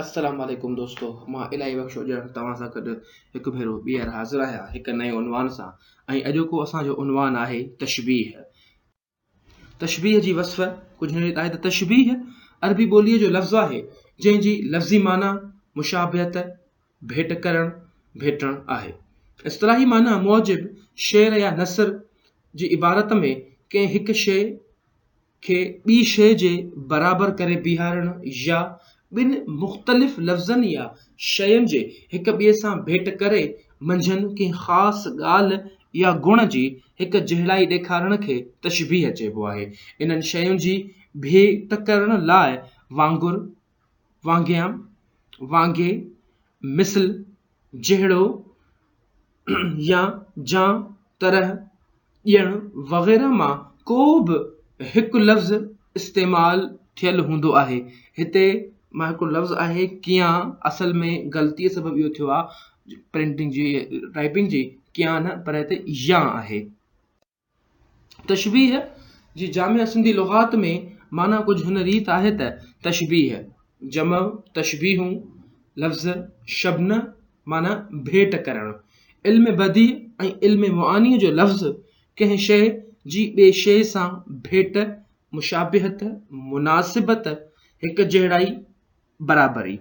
السلام عليڪم دوستو مان الاهي بخش اوڄاڻ توهان سان گڏ هڪ ڀيرو ٻيهر حاضر آهيان هڪ نئين عنوان سان ۽ اڄوڪو اسان جو عنوان آهي تشبيح تشبيح جي وصف ڪجهه هن ريت آهي ته تشبيح عربي ٻوليء جو لفظ آهي جنهن جي لفظي معنيٰ مشابهت ڀيٽ ڪرڻ ڀيٽڻ آهي اصطلاحي معنيٰ موجب شعر يا نثر جي عبارت ۾ ڪنهن هڪ شيء کي ٻي شيء جي برابر ڪري بيهارڻ يا ٻن مختلف لفظن يا شين جي هڪ ٻئي سان ڀيٽ ڪري منجهن ڪنهن خاص ڳالهه يا گڻ جي هڪ جهڙائي ڏيکارڻ کي تشبيهه چئبو آهي. انهن شين جي ڀيٽ ڪرڻ لاء وانگر، وانگيان، وانگي، مثل، جهڙو، يا، جان، طرح، ڄڻ وغيره مان ڪو به هڪ لفظ استعمال ٿيل هوندو آهي. هتي مان هڪڙو لفظ آهي ڪيان اصل ۾ غلطيء سبب اهو ٿيو آهي پرنٽنگ جي ٽائپنگ جي ڪيان نه پر هتي يان آهي. تشبيهه جي جامع سنڌي لغات ۾ معنيٰ ڪجهه هن ريت آهي ته، تشبيهه، جمع، تشبيهون، لفظ، شبنه، معنيٰ ڀيٽ ڪرڻ، علم بديع ۽ علم معانيء جو لفظ، ڪنهن شيء جي ٻي شيء سان ڀيٽ، مشابهت، مناسبت، هڪجهڙائي، برابري.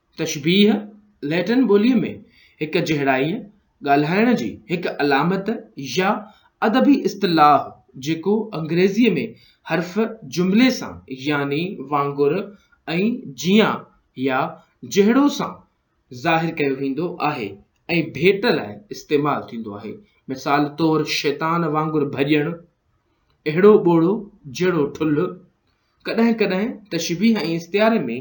تشبيهه، لئٽن ٻوليء ۾ هڪ جهڙائيء، ڳالهائڻ جي هڪ علامت يا ادبي اصطلاح جيڪو انگريزيء ۾ حرف جملي سان يعني وانگر ۽ جيان يا جهڙو سان ظاهر ڪيو ويندو آهي ۽ ڀيٽ لاء استعمال ٿيندو آهي، مثال طور شيطان وانگر ڀڄڻ، اهڙو ٻوڙو جهڙو ٺلهه. ڪڏهن ڪڏهن تشبيهه ۽ استعاري ۾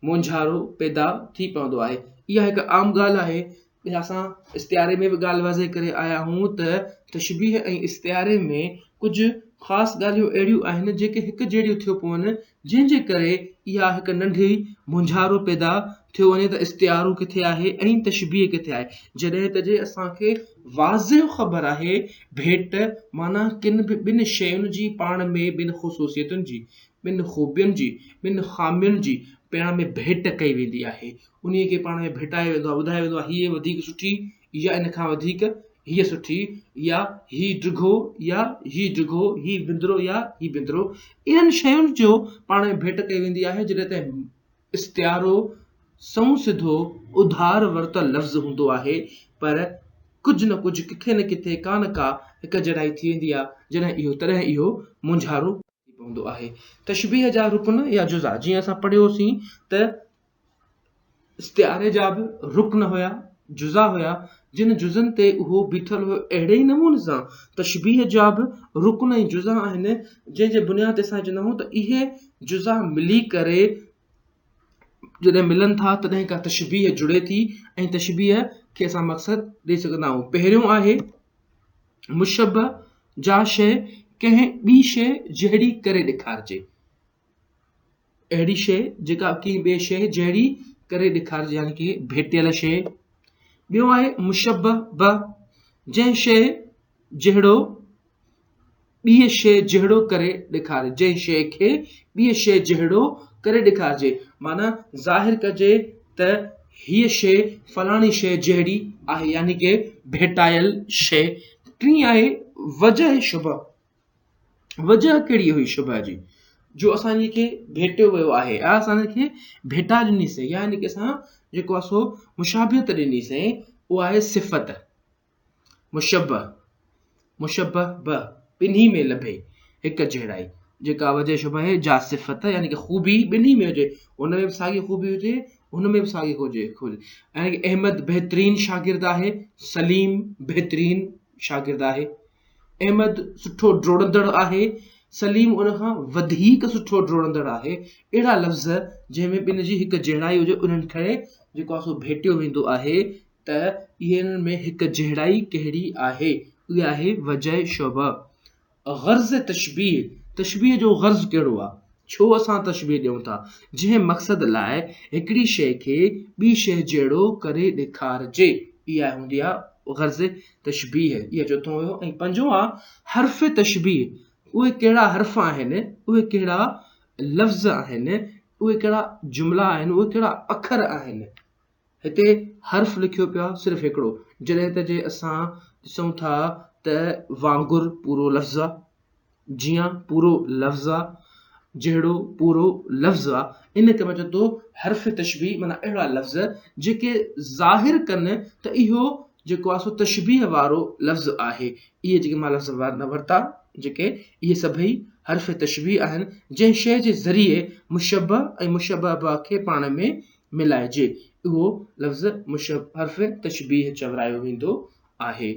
مونجهارو پيدا ٿي پوندو آهي. اها هڪ عام ڳالهه آهي. ٻيا اسان استعاري ۾ به ڳالهه واضح ڪري آيا آهيون ته تشبيهه ۽ استعاري ۾ ڪجهه خاص ڳالهيون اهڙيون آهن جيڪي هڪ جهڙيون ٿيون پون جنهن جي ڪري اها هڪ ننڍي مونجهارو پيدا ٿيو وڃي ته استعارو ڪٿي آهي ۽ تشبيهه ڪٿي آهي جڏهن ته جي اسان کي واضح خبر آهي ڀيٽ معنيٰ ڪن به ٻن شين جي پاڻ ۾ ٻن خصوصيتن جي ٻن خوبين جي ٻن خامين جي پاڻ ۾ ڀيٽ ڪئي ويندي آهي انهي کي پاڻ ۾ ڀيٽايو ويندو آهي ٻڌايو ويندو آهي هيء وڌيڪ سٺي يا ان کان وڌيڪ هيء سٺي يا هي ڊگهو يا هي ڊگهو هي وندرو يا هي وندرو انهن شين جو پاڻ ۾ ڀيٽ ڪئي ويندي آهي جڏهن ته استعارو سنئون سڌو اڌار ورتل لفظ هوندو آهي، پر ڪجهه نه ڪجهه، ڪٿي نه ڪٿي، ڪا نه ڪا هڪجهڙائي ٿي ويندي آهي، جڏهن اهو تڏهن اهو مونجهارو ٿي پوندو آهي. تشبيهه جا رڪن يا جزا، جيئن اسان پڙهيو سين ته استعاري جا به رڪن هيا، جزا هيا، جن جزن تي اهو بيٺل هو اهڙي ئي نموني سان تشبيهه جا به رڪن ۽ جزا آهن جنهن جي بنياد تي اسان چوندا آهيون ته اهي جزا ملي ڪري جڏهن ملن ٿا تڏهن ڪا تشبيهه جڙي ٿي ۽ تشبيهه کي اسان مقصد ڏئي سگهندا آهيون پهريون آهي مشبه جا شيء ڪنهن ٻي شيء جهڙي ڪري ڏيکارجي اهڙي شيء جيڪا ڪنهن ٻي شيء جهڙي ڪري ڏيکارجي يعني ڪنهن ڀيٽيل شيء ٻيو آهي مشبه به جنهن شيء جهڙو ٻي شيء جهڙو ڪري ڏيکاري جنهن شيء کي ٻي شيء جهڙو ڪري ڏيکارجي معنيٰ ظاهر ڪجي ته هيء شيء فلاڻي شيء جهڙي آهي يعني ڪي ڀيٽايل شيء ٽين آهي وجه شبه وجهه ڪهڙي هئي شبهه جي جو اسان جي کي ڀيٽيو ويو آهي يا اسان جي کي ڀيٽا ڏني سئي يا ان کي اسان جيڪو آهي سو مشابهت ڏني سئي اها آهي صفت مشبه مشبه به ٻنهي ۾ لڀي هڪ جهڙائي جيڪا وجه شبه آهي جا صفت يعني کی خوبي ٻنهي ۾ هجي ان ۾ به ساڳي خوبي هجي ان ۾ به ساڳي هجي يعني احمد بهترين شاگرد آهي سليم بهترين شاگرد آهي احمد سٺو ڊوڙندڙ آهي، سليم ان کان وڌيڪ سٺو ڊوڙندڙ آهي، اهڙا لفظ جنهن ۾ ٻن جي هڪ جهڙائي هجي انهن کي جيڪو آهي سو ڀيٽيو ويندو آهي ته انهن ۾ هڪ جهڙائي ڪهڙي آهي؟ اها آهي وجهه شبهه. غرض تشبيهه، تشبيهه جو غرض ڪهڙو آهي؟ ڇو اسان تشبيهه ڏيون ٿا، جنهن مقصد لاء هڪڙي شيء کي ٻي شيء جهڙو ڪري ڏيکارجي، اها هوندي آهي غرض تشبيهه، اهو چوٿون هيو ۽ پنجون آهي حرف تشبيهه، اهي ڪهڙا حرف آهن، اهي ڪهڙا لفظ آهن، اهي ڪهڙا جملا آهن، اهي ڪهڙا اکر آهن. هتي حرف لکيو پيو آهي صرف هڪڙو، جڏهن ته جي اسان ڏسون ٿا ته وانگر پورو لفظ آ، جيئن پورو لفظ آ، جهڙو پورو لفظ آ، ان کي مچئجي ٿو حرف تشبيه معنيٰ اهڙا لفظ جيڪي ظاهر ڪن ته اهو جيڪو آ سو تشبيه وارو لفظ آهي. اهي جيڪي مان لفظ ورتا جيڪي اهي سڀئي حرف تشبيه آهن جنهن شيء جي ذريعي مشبه ۽ مشبه به کي پاڻ ۾ ملائجي، اهو لفظ مشبه حرف تشبيه چورايو ويندو آهي.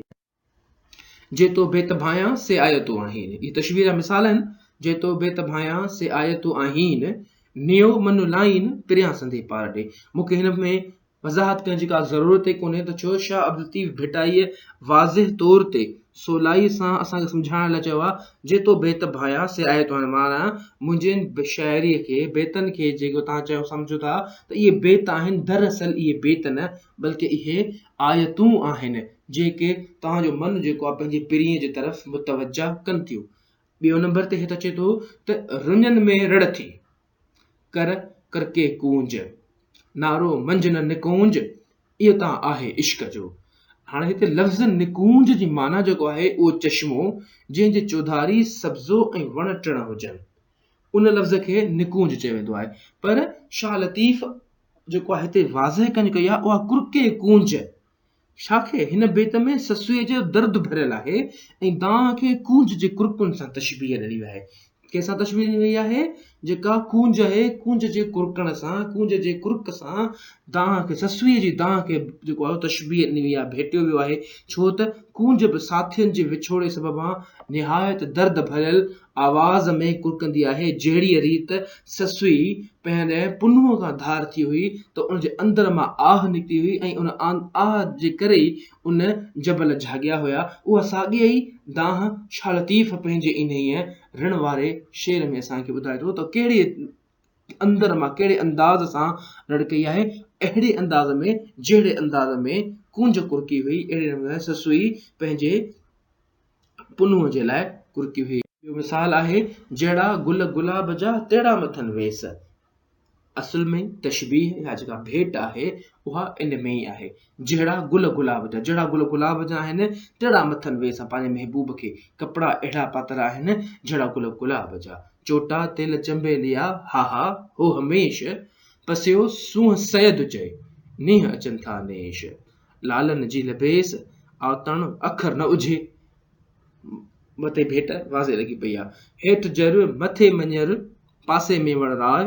جي تو بيت ڀانيان سي آيتون آهين، اهي تشبيه جا مثال آهن، جي تو بيت ڀانيان سي آيتون آهين، نيو منو لائين پريان سندي پار ڏي. مون کي هن ۾ وضاحت ڪرڻ جي ڪا ضرورت ئي ڪونهي ته ڇو شاهه عبدالطيف ڀٽائيء واضح طور تي سولائيء سان اسان کي سمجهائڻ لاء چيو آهي، جي تو بيت ڀانئيان، سي آء توهان ماران. منهنجي ان شاعريء کي، بيتن کي جيڪو توهان چيو سمجهو ٿا ته اهي بيت آهن، دراصل اهي بيت نه، بلڪه اهي آيتون آهن، جيڪي توهان جو من جيڪو آهي پنهنجي پرينء جي طرف متوجهه ڪن ٿيون. ٻيو نمبر تي هت اچي ٿو ته رڃن ۾ رڙ ٿي. ڪر ڪرڪي ڪونج، نعرو منجهه نه نڪونج، اهو ته آهي عشق جو. هاڻي هتي لفظ نڪونج جي معنيٰ جيڪو آهي اهو چشمو جنهن جي چوڌاري سبزو ۽ وڻ ٽڻ هجن. ان لفظ کي نڪونج چيو ويندو آهي. پر شاهه لطيف جيڪو آهي هتي واضح ڪنج ڪئي آهي اها ڪرڪي ڪونج. شاخي هن بيت ۾ سسئي جو درد ڀريل آهي ۽ دانهن کي ڪونج جي ڪرڪن سان تشبيهه ڏني وئي آهي. ڪنهن سان تشبيهه ڏني وئي آهي؟ جيڪا ڪونج آهي، ڪونج جي ڪرڪڻ سان، ڪونج جي ڪرڪ سان دانهن کي، سسئي جي دانهن کي جيڪو آهي تشبيهه ڏني وئي آهي، ڀيٽيو ويو آهي، ڇو ته ڪونج به ساٿين جي وڇوڙي سببان نهايت درد ڀريل آواز ۾ ڪرڪندي آهي، جهڙيء ريت سسئي پنهنجي پنهونء کان ڌار ٿي هئي ته ان جي اندر مان آهه نڪتي هئي ۽ ان آهه جي ڪري ئي ان جبل جهاڳيا هيا، اها ساڳيء ئي دانهن شاهه لطيف پنهنجي انهيء رڻ واري شعر ۾ اسان کي ٻڌائي ٿو ته ڪهڙي اندر مان ڪهڙي انداز سان رڙ ڪئي آهي، اهڙي انداز ۾، جهڙي انداز ۾ ڪونج ڪرڪي هئي، اهڙي نموني سسئي پنهنجي پنهونء جي لاء ڪرڪي هئي. ٻيو مثال آهي، جهڙا گل گلاب جا، تهڙا مٿن ويس. اصل ۾ تشبيهه يا جيڪا ڀيٽ آهي، اها ان ۾ ئي آهي. جهڙا گل گلاب جا، جهڙا گل گلاب جا آهن، تهڙا مٿن ويس، پنهنجي محبوب کي ڪپڙا اهڙا پاتل آهن، جهڙا گل گلاب جا. چوٽا تيل چنبي ليا، ها ها، هو هميش، پسيو سونهن سيد چئي، نيهه اچن ٿا نيش. لالن جي لبيس آتڻ اکر نه اجهي. مٿي ڀيٽ واضح لڳي پئي آ. هيٺ جر مٿي مڃر پاسي ۾ وڻ راء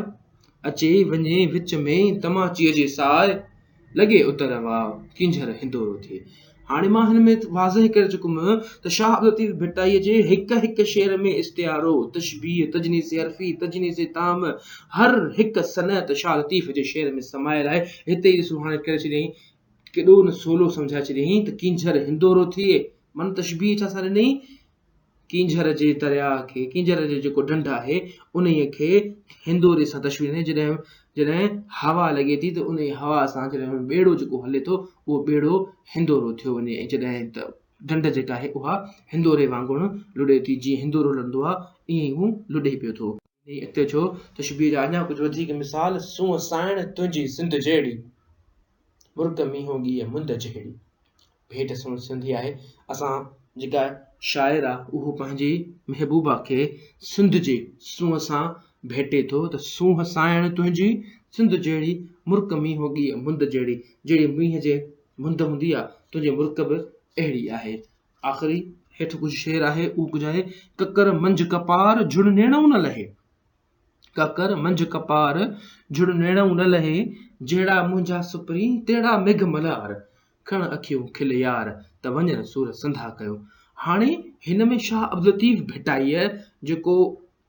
اچي وڃي وچ ۾ تماچيء جي ساء لڳي اتر واء ڪينجهر هندورو ٿئي. هاڻي مان هن ۾ واضح ڪري چڪم ته شاهه عبداللطيف ڀٽائيء جي هڪ هڪ شعر ۾ استعارو، تشبيهه، تجنيس حرفي، تجنيس تام، هر هڪ صنعت شاهه لطيف جي شعر ۾ سمايل آهي. هتي ئي ڏسو هاڻي ڪري ڇڏيائين. ڪيڏو نه سولو سمجهائي ڇڏيائين ته ڪينجهر هندورو ٿئي. من تشبيهه ڇا سان ڏنئي؟ ڪينجهر جي درياهه کي، ڪينجهر جو جيڪو ڍنڍ آهي، انهيء کي هندوري سان تشبيهه ڏنئي. جڏهن جڏهن هوا لڳي ٿي ته انهيء هوا سان جڏهن ٻيڙو جيڪو هلي ٿو، اهو ٻيڙو هندورو ٿيو وڃي ۽ جڏهن ته ڍنڍ جيڪا آهي، اها هندوري وانگر لڏي ٿي. جيئن هندورو لڏندو آهي، ائين ئي هو لڏي پيو ٿو. انهيء اڳتي جو تشبيهه جا اڃا ڪجهه وڌيڪ مثال، سونهن سانئڻ تنهنجي سنڌ جهڙي، مرڪ مينهون ڳيء مند جهڙي. ڀيٽ سنڌ سنڌي آهي. اسان جيڪا شاعر آ اهو پنهنجي محبوبا کي سنڌ جي سونهن سان ڀيٽي ٿو ته سونهن سانئڻ تنهنجي سنڌ جهڙي، مرڪ مينهون ڳيء مند جهڙي. جهڙي مينهن جي مند هوندي آ، تنهنجي مرڪ به اهڙي آهي. آخري هيٺ ڪجهه شعر آهي، اهو ڪجهه آهي. ڪڪر منجهه ڪپار، جھڙ نيڻئون نه لهي. ڪڪر منجهه ڪپار، جھڙ نيڻئون نه لهي. جهڙا منهنجا سپرين، تهڙا ميگهه ملهار. کڻ اکيون کل يار، ته وڃن سور سنڌا ڪيو. هاڻي هن ۾ شاهه عبداللطيف ڀٽائيء جيڪو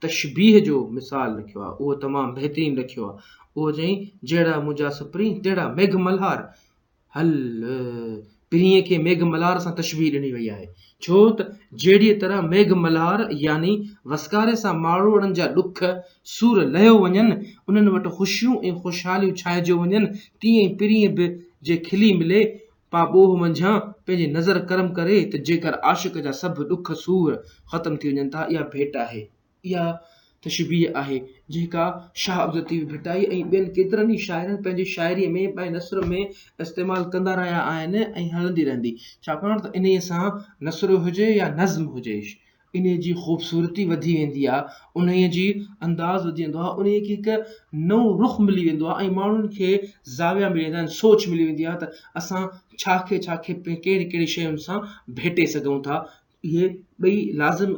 تشبيهه جو مثال رکيو آهي، اهو تمام بهترين رکيو آهي. اهو چيائين، جهڙا منهنجا سپرين، تهڙا ميگهه ملهار. هل پرينء کي ميگهه ملهار سان تشبيهه ڏني وئي آهي، ڇو ته جهڙيء طرح ميگهه ملهار يعني وسڪاري سان ماڙوئڙن جا ڏک سور لهيو وڃن، انهن وٽ خوشيون ۽ خوشحاليون ڇانئجيو وڃن، تيئن ئي پرينء به جي کلي ملي پاء ٻوهه منجهان پنهنجي نظر ڪرم ڪري ته جيڪر عاشق جا سڀ ڏک سور ختم ٿي وڃن ٿا، اها ڀيٽ آهي. اها تشبيهه آهي، جيڪا شاهه عبدالطيف ڀٽائي ۽ ٻين ڪيترن ئي شاعرن پنهنجي شاعريء ۾ ۽ نثر ۾ استعمال ڪندا رهيا آهن ۽ هلندي رهندي، ڇاڪاڻ ته انهيء سان نثر هجي يا نظم هجي، انهيء جي خوبصورتي وڌي ويندي آهي، انهيء جي انداز وڌي ويندو آهي، انهيء کي هڪ نئون رخ ملي ويندو آهي ۽ ماڻهن کي زاويا ملي ويندا آهن، سوچ ملي ويندي آهي ته اسان ڇا کي ڇا کي ڪهڙي ڪهڙي شين سان ڀيٽي سگهون ٿا. اهي ٻئي لازم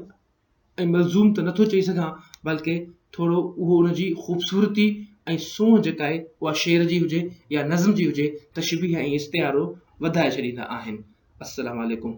۽ ملزوم ته نٿو چئي سگهان بلڪه ٿورو اهو ان جي خوبصورتي ۽ سونهن جيڪا آهي اها شعر جي هجي يا نظم جي هجي تشبيهه ۽ استعارو وڌائي ڇڏيندا آهن. السلام عليڪم.